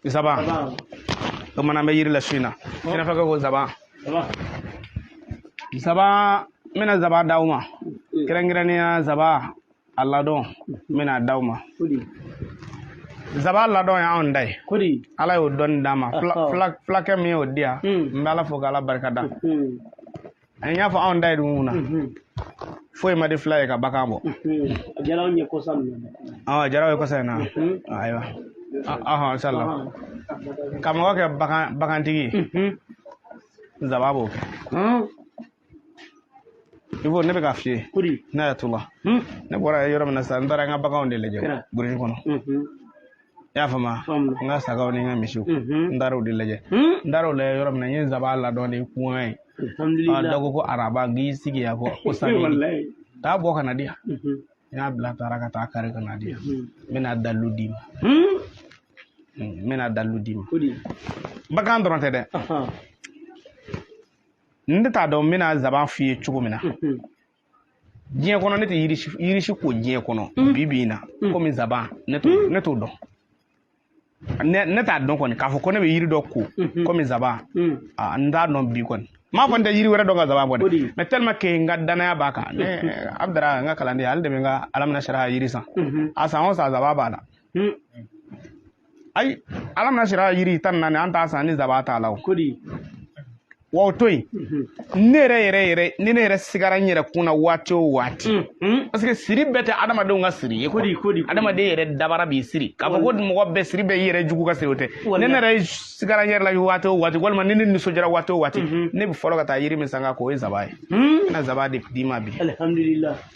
Nsaban bamanankan bɛ yiri la su in na i n'a fɔ ko nsaban nsaban n bɛna nsaban d'aw ma kɛrɛnkɛrɛnnenya nsaban a ladɔn n bɛna d'aw ma nsaban ladɔn ye anw da ye ala y'o dɔn d'an ma fulakɛ min y'o di yan n bɛ ala fo k'ala barika da an y'a fɔ anw da ye diɲɛ na foyi man di fila ye ka bagan bɔ a diyara anw ye kɔsa min na ɔ a diyara aw ye kɔsa in na ayiwa inisala ka mɔgɔ kɛ bagantigi ye nzaba b'o kɛ i b'o ne bɛ k'a f'i ye ne y'a to la ne bɔra yɔrɔ min na sisan n taara n ka baganw de lajɛ burusi kɔnɔ i y'a faamuya n ka sagaw ni n ka misiw n taara o de lajɛ n taara o lajɛ yɔrɔ min na n ye nsaban ladɔn de kuŋa ye dɔ ko ko araba n k'i sigi yan kɔ ko sami taa bɔ ka na di yan n y'a bila taara ka taa kari ka na di yan n bɛna dalilu d'i ma n bɛna dalilu d'i ma bagan dɔrɔn tɛ dɛ n tɛ t'a dɔn n bɛna zaban f'i ye cogo min na diɲɛ kɔnɔ ne tɛ yiri si ko diɲɛ kɔnɔ mm. bi bi in na mm. komi nsaban ne t'o mm. ne t'o dɔn ne t'a dɔn kɔni k'a fɔ ko ne bɛ yiri dɔ ko mm-hmm. komi nsaban n t'a dɔn bi kɔni n m'a fɔ n tɛ yiri wɛrɛ dɔn ka nsaban bɔ dɛ mais tellement que n ka danaya b'a kan ne mm-hmm. abudara n ka kalanden ale de bɛ n ka alamu nasara yiri san mm-hmm. a san o san nsaban b'a la ayi alamu nasara yiri tan naani an t'a san ni zaba t'a la o kodi wa o to yen ne yɛrɛ yɛrɛ yɛrɛ ni ne yɛrɛ sigara n yɛrɛ kun na waati o waati parce que siri bɛɛ tɛ adamadenw ka siri ye kodi kodi adamaden yɛrɛ dabaga b'i siri k'a fɔ ko mɔgɔ bɛɛ siri bɛɛ i yɛrɛ jugu ka siri o tɛ ni ne yɛrɛ sigara n yɛrɛ la waati o waati walima ni ne nisɔndiyara waati o waati ne bɛ fɔlɔ ka taa yiri min san k'a ko o ye zaba ye n bɛna zaba de d'i ma bi alihamudulila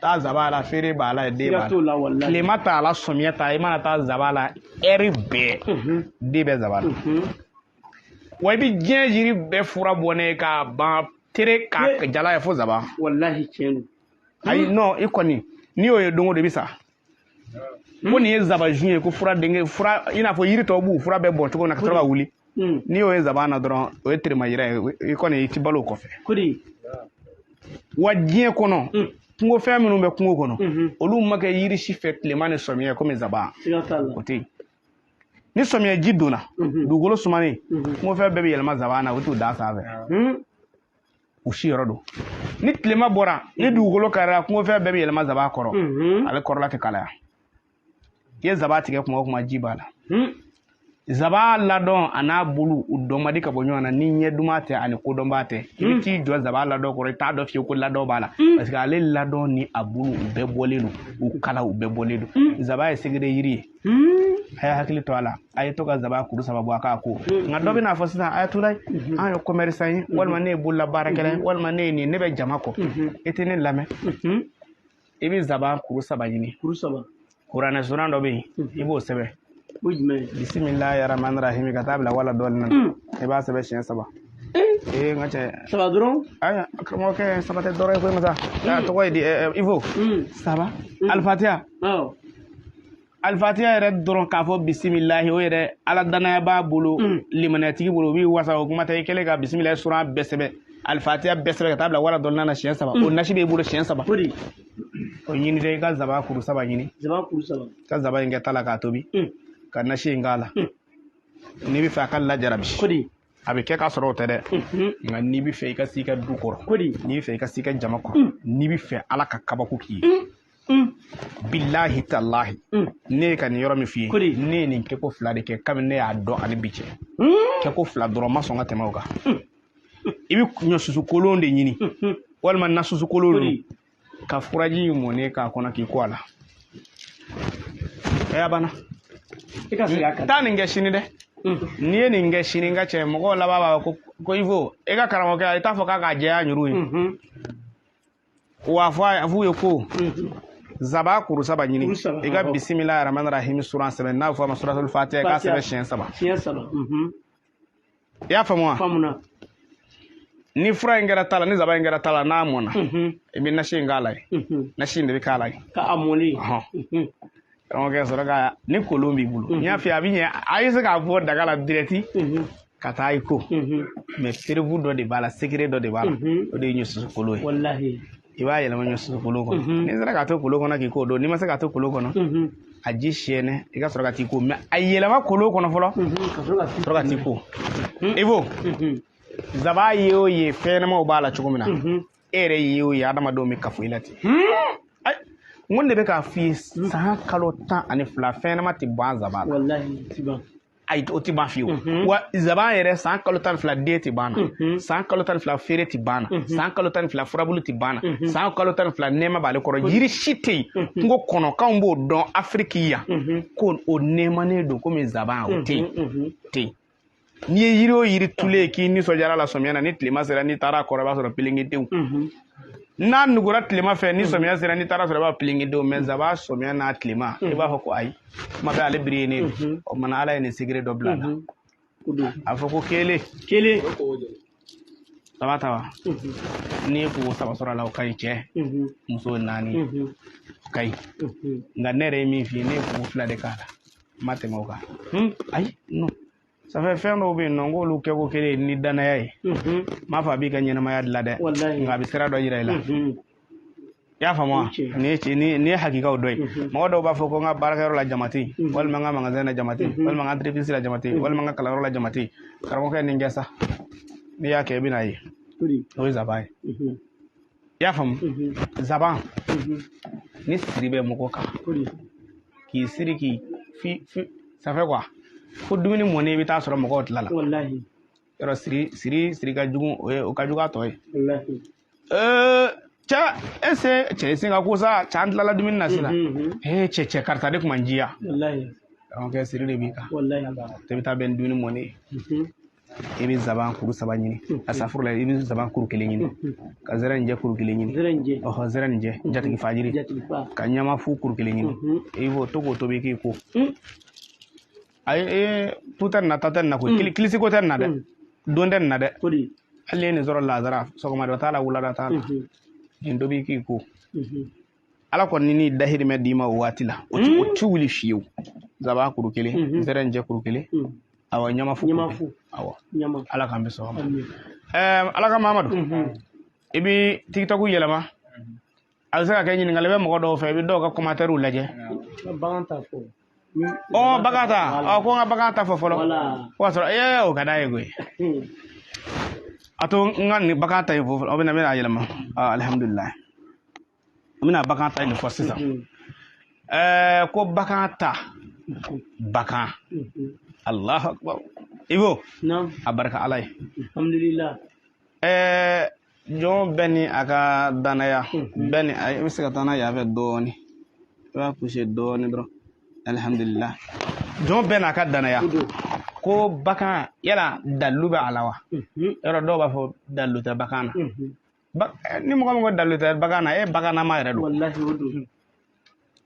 taa zaba la feere b'a la den b'a la tilema t'a la sɔmiya t'a i mana taa zaba la ɛri bɛɛ den bɛ zaba la wa i bɛ diɲɛ yiri bɛɛ fura bɔnnen ka ban tere k'a jalan ye fo zaba walahi tiɲɛ don ayi nɔn i kɔni n'i y'o ye don o don i bɛ sa ko nin ye zabaju ye ko fura denkɛ fura i n'a fɔ yiri tɔw b'u fura bɛɛ bɔn cogo min na ka sɔrɔ ka wuli n'i y'o ye zaban na dɔrɔn o ye terima yira ye i kɔni i ti balo o kɔfɛ wa diɲɛ kɔnɔ kungofɛn minnu bɛ kungo kɔnɔ olu ma kɛ yiri si fɛ tilema ni sɔmiyɛ komi zaban o tɛ yen ni sɔmiyɛ ji donna dugukolo sumanen kungofɛn bɛɛ bɛ yɛlɛma zaban na o t'u da sanfɛ u si yɔrɔ don ni tilema bɔra ni dugukolo karira kungofɛn bɛɛ bɛ yɛlɛma zaba kɔrɔ ale kɔrɔla tɛ kalaya i ye zaba tigɛ kuma o kuma ji b'a la zaba ladɔn a n'a bulu u dɔn man di ka bɔ ɲɔgɔn na ni ɲɛ duman tɛ ani kodɔnbaa tɛ i bɛ t'i jɔ zaba ladɔn kɔrɔ i t'a dɔn fiyewu ko ladɔn b'a la parce que ale ladɔn ni a bulu u bɛɛ bɔlen don u kala u bɛɛ bɔlen don zaba ye segere yiri ye a y'a hakili to a la a ye to ka zaba kuru saba bɔ a k'a ko nka dɔ bɛna fɔ sisan ayatula an ye commerçant ye walima ne ye bolola baarakɛla ye walima ne ye nin ne bɛ jama kɔ i tɛ ne lamɛn i bɛ zaba kuru saba ɲini kuru saba kuranɛ suran dɔ bɛ yen i b'o sɛbɛn o jumɛn ye bisimilahi rahmani rahimi ka taa bila wala dɔɔlin na i b'a sɛbɛn siɲɛ saba ee n ka cɛ saba dɔrɔn ayiwa karamɔgɔkɛ saba tɛ dɔrɔn ye koyi masa a tɔgɔ ye di ivo saba alifatiya alifatiya yɛrɛ dɔrɔn k'a fɔ bisimilahi o yɛrɛ ala danaya b'a bolo mm. limaniyatigi bolo o b'i wasa o kuma tɛ i kɛlen ka bisimilahi suran bɛɛ sɛbɛn alifatiya bɛɛ sɛbɛn ka taa bila wala dɔɔlin na siɲɛ saba mm. o nasi b'i bolo siɲɛ saba o ɲini dɛ i ka zaba kuru saba ɲini ka zaba in kɛ ta la k'a tobi mm. ka nasi in k'a la n'i bɛ fɛ a ka lajarabi a bɛ kɛ k'a sɔrɔ o tɛ dɛ nka n'i bɛ fɛ i ka se i ka du kɔrɔ n'i bɛ fɛ i ka se i ka jama kɔrɔ mm. n'i bɛ fɛ ala ka kabako k'i ye mm. Mm. bilahi talahi ne ye ka nin yɔrɔ min f'i ye ne ye nin kɛko fila de kɛ kabini ne y'a dɔn ani bi cɛ kɛko fila dɔrɔn ma sɔn ka tɛmɛ o kan i bɛ ɲɔsusu kolon de ɲini walima nasusu kolon ka furaji in mɔnnen k'a kɔnɔ k'i ko a la ɛɛ a banna i ka segin a kan taa nin kɛ sini dɛ n'i ye nin kɛ sini n ka cɛ mɔgɔw laban b'a fɔ ko ko ivo e ka karamɔgɔkɛ a i t'a fɔ k'a k'a jɛya ɲuru ye wa fɔ a f'u ye ko zaba kuru saba ɲini Kuru saba, i ka awɔ. bisimila rahman rahim suran sɛbɛn n'a bɛ fɔ a ma suratul fatiha k'a Fatiha. sɛbɛn siɲɛ saba siɲɛ saba i y'a faamu wa faamuna ni fura in kɛra ta la ni zaba in kɛra ta la n'a mɔna Mhm, i bɛ nasi in k'a la ye mhm. nasi in de bɛ k'a la ye k'a mɔni Ɔhɔn. Mhm, karamɔgɔkɛ sɔrɔ ka ni kolon b'i bolo n y'a f'i ye a bɛ ɲɛ a ye se k'a bɔ daga la direct mhm, ka taa i ko mhm, mais preuve dɔ de b'a la secret dɔ de b'a la Mhm. o de ye ɲɔsusu kolon ye walahi i b'a yɛlɛma ɲɔsusu kolon kɔnɔ mhm. n'i sera k'a to kolon kɔnɔ k'i ko o don n'i ma se k'a to kolon kɔnɔ mhm. a ji siyɛnɛ i ka sɔrɔ ka t'i ko mais a yɛlɛma kolon kɔnɔ fɔlɔ mhm, ka sɔrɔ ka t'i ko ivo zaba ye o ye fɛn ɲɛnamaw b'a la cogo min na e yɛrɛ ye o ye adamadenw bɛ kafo i la ten n ko ne bɛ k'a f'i ye san kalo tan ani fila fɛn ɲɛnama tɛ ban zaba la ayi o tɛ ban fiyewu mhm. wa zaban yɛrɛ san kalo tan ni fila den tɛ ban na mhm. san kalo tan ni fila feere tɛ ban na mhm. san kalo tan ni fila furabulu tɛ ban na san kalo tan ni fila nɛɛma b'ale kɔrɔ yiri si tɛ yen kungo kɔnɔ k'anw b'o dɔn afiriki yan ko o nɛɛmanen don komi zaban o tɛ yen tɛ yen n'i ye yiri o yiri tulen ye k'i nisɔndiyara la sɔmiya na ni tilema sera n'i taara a kɔrɔ i b'a sɔrɔ pelengedenw n'a nugura tilema fɛ ni sɔmiya sera n'i taara sɔrɔ i b'a pelengedenw mais zaban sɔmiya n'a tilema i b'a fɔ ko ayi kuma bɛ ale biri ye ne mhm. o mana ala ye nin secret dɔ bila a la mhm. a fɔ ko kelen kelen saba ta wa mhm. n'i ye koko saba sɔrɔ a la o ka ɲi cɛ muso naani o ka ɲi nka ne yɛrɛ ye min f'i ye ne ye koko fila de k'a la n ma tɛmɛ o kan hmm? ayi ça fait fɛn dɔw bɛ yen n'an k'olu kɛ ko kelen ni danaya ye n m'a fɔ a b'i ka ɲɛnamaya dilan dɛ nka a bɛ sira dɔ yira i la i y'a faamu wa nin ye ci nin ye hakikaw dɔ ye mɔgɔ dɔw b'a fɔ ko n ka baarakɛyɔrɔ la jama tɛ yen walima n ka magasɛn na jama tɛ yen walima n ka entreprise la jama tɛ yen walima n ka kalanyɔrɔ la jama tɛ yen karamɔgɔkɛ nin kɛ sa n'i y'a kɛ i bɛn'a ye o ye zaban ye i y'a faamu zaban ni siri bɛ mɔgɔ kan k'i siri k'i fi fi ça fait quoi fo dumuni mɔnen i bɛ t'a sɔrɔ mɔgɔw tilala yɔrɔ siri siri siri ka jugu o ye o ka jugu a tɔ ye cɛ e sen cɛ i sen ka go sa cɛ an tilala dumuni na sisan ee cɛ cɛ karisa de tun ma jiya kɛ siri de b'i kan tɛ i bɛ taa bɛn dumuni mɔnen ye i bɛ zaban kuru saba ɲini asafurula i bɛ zaban kuru kelen ɲini ka zɛrɛnjɛ kuru kelen ɲini ɔhɔ zɛrɛnjɛ jatigifa jiri ka ɲamafu kuru kelen ɲini i b'o to k'o tobi k'i ko ayi ee tu tɛ nin na ta tɛ nin na koyi kili kilisi ko tɛ nin na dɛ don tɛ nin na dɛ hali n'i ye nin sɔrɔ lazara sɔgɔmada t'a la wulada t'a la nin tobi k'i ko ala kɔni ni ni dahirimɛ d'i ma o waati la o ti o ti wuli fiyewu zaban kuru kelen zɛrɛnjɛ kuru kelen awɔ ɲamafu ɲamafu awɔ ɲama ala k'an bɛn sɔgɔma ɛɛ ala ka mamadu i bɛ tikitɔku yɛlɛma a bɛ se ka kɛ ɲininkali bɛ mɔgɔ dɔw fɛ i bɛ dɔw ka kɔmantɛriw lajɛ bagan ta fɔ ɔ bagan ta ɔ ko n ka bagan ta fɔ fɔlɔ o y'a sɔrɔ ee o ka d'a ye koyi a to n ka nin bagan ta in fɔ fɔlɔ o bɛna n bɛna yɛlɛma alihamudulilayi n bɛna bagan ta in fɔ sisan ɛɛ ko bagan ta bagan alahu akibaru ibo a barika ala ye ɛɛ jɔn bɛɛ ni a ka danaya bɛɛ ni i bɛ se ka taa n'a ye ɲɛfɛ dɔɔnin i b'a puse dɔɔnin dɔrɔn alihamudulila jɔn bɛɛ n'a ka danaya ko bagan yala dalu bɛ a la wa yɔrɔ dɔw b'a fɔ dalu tɛ bagan na eh, ni mɔgɔ min ko dalu tɛ bagan na e baganama yɛrɛ don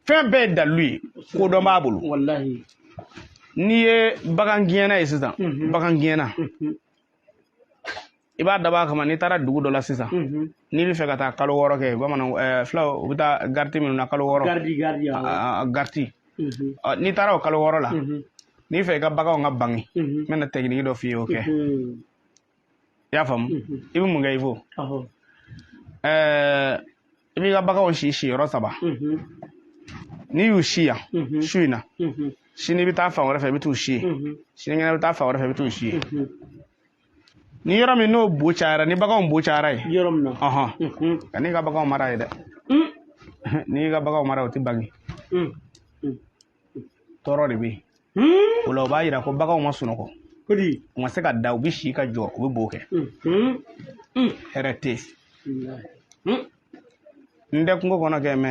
fɛn bɛɛ ye dalu ye kodɔn b'a bolo n'i ye bagan gɛnna ye sisan bagan gɛnna i b'a dabɔ a kama n'i taara dugu dɔ la sisan mhm. n'i b'a fɛ ka taa kalo wɔɔrɔ kɛ bamananw eh, fulaw u bɛ taa gariti minnu na kalo wɔɔrɔ gariti mhm. n'i taara o kalo wɔɔrɔ la mhm. n'i b'a fɛ i ka baganw ka bange n bɛna tɛkiniki dɔ f'i ye o kɛ i y'a faamu i bɛ mun kɛ i fo eh, i b'i ka baganw si si yɔrɔ saba n'i y'u si yan su in na sini i bɛ taa fan wɛrɛ fɛ i bɛ t'u si yen sinikɛnɛ i bɛ taa fan wɛrɛ fɛ i bɛ t'u si yen ni yɔrɔ min n'o bo cayara ni baganw bo cayara ye yɔrɔ min na ɔhɔn mhm. kan'i ka baganw mara yen dɛ mm. n'i ka baganw mara o tɛ bange mm. Mm. tɔɔrɔ de bɛ yen hmm? o la o b'a yira ko baganw ma sunɔgɔ u ma se ka da u bɛ si ka jɔ u bɛ bo kɛ mhm. hmm. hɛrɛ tɛ yen hmm. n tɛ kungo kɔnɔ kɛ mɛ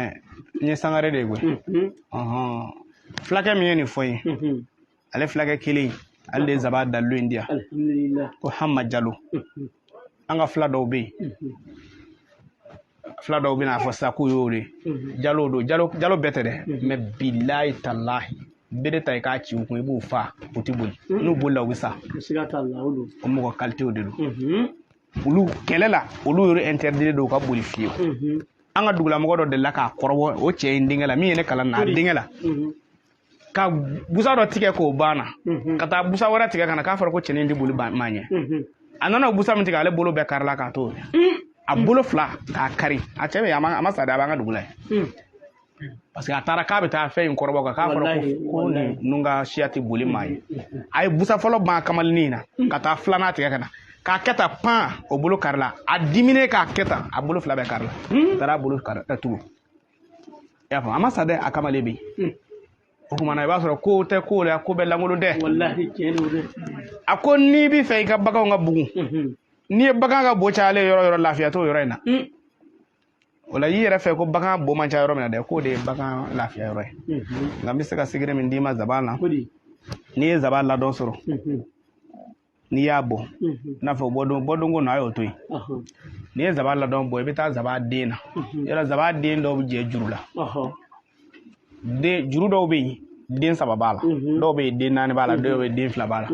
n ye sangare de ye koyi mhm. ɔhɔn fulakɛ min ye nin fɔ n ye ale fulakɛ kelen ale de ye zaban dalilu in di yan ko hama jalo an ka fila dɔw bɛ yen fila dɔw bɛna fɔ sisan k'u y'o de jalo don jalo jalo bɛɛ tɛ dɛ mɛ bilayi talahi bere ta i k'a ci u kun i b'u fa u tɛ boli n'u bolila u bɛ sa o mɔgɔ kalitew de don olu kɛlɛ la olu yɛrɛ interdit don u ka boli fiyewu an ka dugulamɔgɔ dɔ delila k'a kɔrɔbɔ o cɛ in denkɛ la min ye ne kalan na a denkɛ la ka busa dɔ tigɛ k'o ban a la mhm. ka taa busa wɛrɛ tigɛ ka na k'a fɔra ko cɛnin tɛ boli maa ɲɛ mhm. a nana o busa min tigɛ ale bolo bɛɛ karila k'a to mm. a bolo fila k'a kari a cɛ bɛ a ma sa dɛ a b'an ka dugu la yen mm. parce que a taara k'a bɛ taa fɛn in kɔrɔbɔ kan k'a fɔra ko ninnu ka siya tɛ boli maa ɲɛ mm. a ye busa fɔlɔ ban kamalennin in na ka taa filanan tigɛ ka na k'a kɛ tan pan o bolo karila a diminen k'a kɛ tan a bolo fila bɛɛ karila a taara a bolo karila tugun i y'a faamu a ma sa dɛ a kamalen bɛ yen o tuma na i b'a sɔrɔ kow tɛ kow la ko bɛɛ lankolon tɛ a ko n'i b'a fɛ i ka baganw ka bugun n'i ye bagan ka bo cayalen yɔrɔ yɔrɔ lafiya t'o yɔrɔ in na o la y'i yɛrɛ fɛ ko bagan bo man ca yɔrɔ min na dɛ k'o de ye bagan lafiya yɔrɔ ye nka n bɛ se ka secret min d'i ma zaban na n'i ye zaban ladɔn sɔrɔ n'i y'a bɔ i n'a fɔ bɔdon bɔdonko na a y'o to yen n'i ye zaban ladɔn bɔ i bɛ taa zaban den na yɔrɔ zaban den dɔw bɛ jɛ juru la den juru dɔw bɛ yen den saba b'a la dɔw bɛ yen den naani b'a la dɔw bɛ yen den fila b'a la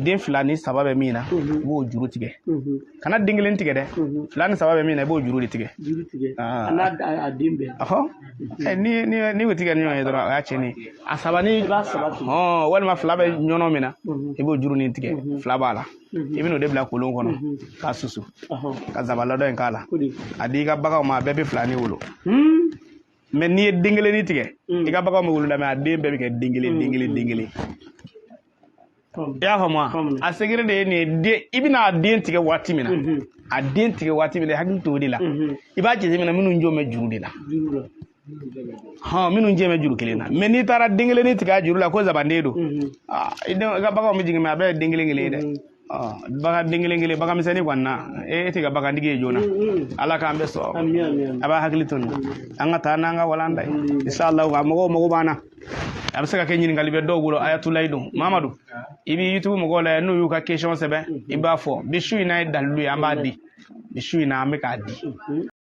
den fila ni saba bɛ min na i b'o juru tigɛ kana den kelen tigɛ dɛ fila ni saba bɛ min na i b'o juru de tigɛ juru tigɛ a n'a den bɛɛ Eh, ni ni ni o tigɛ ɲɔgɔn ye dɔrɔn o y'a cɛnni ye a saba ni i b'a saba turu hɔn walima fila bɛ yɔrɔ min na mhm. i b'o jurunin tigɛ mhm. fila b'a la mhm. i bɛn'o de bila kolon kɔnɔ k'a susu ka zaban ladɔn in k'a la a di i ka baganw ma a bɛɛ bɛ filanin wolo hmm. mɛ n'i ye den kelennin tigɛ hmm. i ka baganw bɛ wolo la mɛ a den bɛɛ bɛ kɛ den kelen den kelen den kelen i y'a faamu wa a secret de ye nin ye dɛ i bɛna a den tigɛ waati min na a den tigɛ waati min na hakili t'o de la i b'a jateminɛ minnu jo bɛ juru de la hɔn minnu jɛ bɛ juru kelen na mais n'i taara den kelen tigɛ a juru la ko zabanden don i ka baganw bɛ jigin mais a bɛɛ ye den kelen kelen ye dɛ bagan den kelen kelen bagan misɛnnin kɔni na e tɛ kɛ bagantigi ye joona ala k'an bɛɛ sɔn a b'a hakili to nin an ka taa n'an ka walanda ye inshallah ka mɔgɔw mago b'an na a bɛ se ka kɛ ɲininkali bɛ dɔw bolo ayatulayi don mamadu i bɛ youtube mɔgɔw la n'u y'u ka question sɛbɛn i b'a fɔ bi su in n'a ye dalilu ye an b'a di bi su in na an bɛ k'a di